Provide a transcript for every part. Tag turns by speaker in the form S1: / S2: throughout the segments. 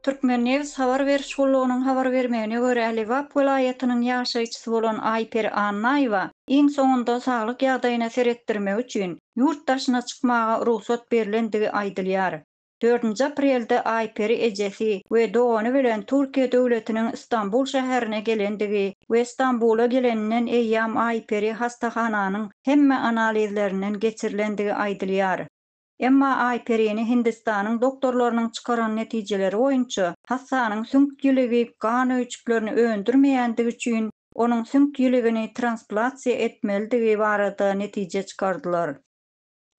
S1: Türkmennews habar beriş gullugynyň habar bermegine görä, Lebap welaýatynyň ýaşaýjysy bolan Aýperi Annaýewa iň soňunda saglyk ýagdaýyna seretdirmek üçin ýurt daşyna çykmaga rugsat berlendigi aýdylýar. Dördünji aprelde Aýperi ejesi we dogany bilen Türkiýe döwletiniň Stambul şäherine gelendigi we Stambula geleninden eýýam Aýperi hastahananyň hemme analizlerinden geçirilendigi aýdylýar. Emma Aýperini Hindistanyň doktorlarynyň çykaran netijeleri boýunça hassanyň süňk ýiligi gan öýjüklerini öndürmeýändigi üçin onuň süňk ýiligini transplasiýa etmelidigi barada netije çykardylar.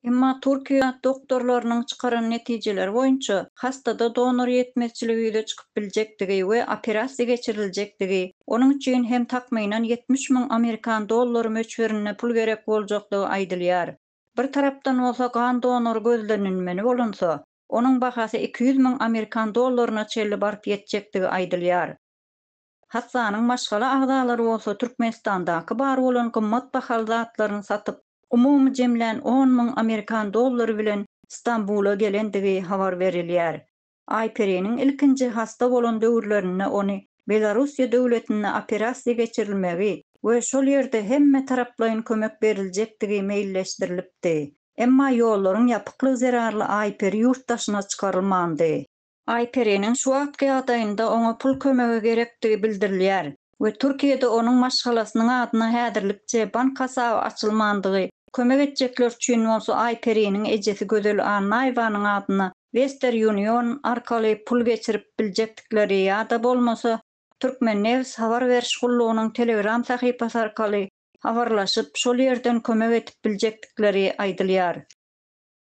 S1: Emma Türkiýe doktorlarynyň çykaran netijeleri boýunça hastada donor ýetmezçiligi ýüze çykyp biljekdigi we operasiýa geçiriljekdigi, onuň üçin hem takmynan ýetmiş müň amerikan dollary möçberinde pul gerek boljakdygy aýdylýar. Bir tarapdan bolsa gan donory gözlenilmeli bolunsa, onuň bahasy iki ýüz müň amerikan dollaryna çenli baryp ýetjekdigi aýdylýar. Hastanyň maşgala agzalary bolsa Türkmenistandaky bar bolan gymmat bahaly zatlaryny satyp, umumy jemlän on müň amerikan dollary bilen Stambula gelendigi habar berilýär. Aýperiniň ilkinji hasta bolan döwürlerinde ony Belorussiýa döwletinde operasiýa geçirilmegi we şol ýerde hemme taraplaýyn kömek beriljekdigi meýilleşdirilipdi. Emma ýollaryň ýapyklygy zerarly Aýperi ýurt daşyna çykarylmandy. Aýperiniň şu wagtky ýagdaýynda oňa pul kömegi gerekdigi bildirilýär we Türkiýede onuň maşgalasynyň adyna häzirlikçe bank hasaby açylmandygy, kömek etjekler üçin bolsa Aýperiniň ejesi Gözel Annaýewanyň adyna Wester Union arkaly pul geçirip biljekdikleri ýa-da bolmasa Türkmennews habar beriş gullugynyň Telegram sahypasy arkaly habarlaşyp, şol ýerden kömek edip biljekdikleri aýdylýar.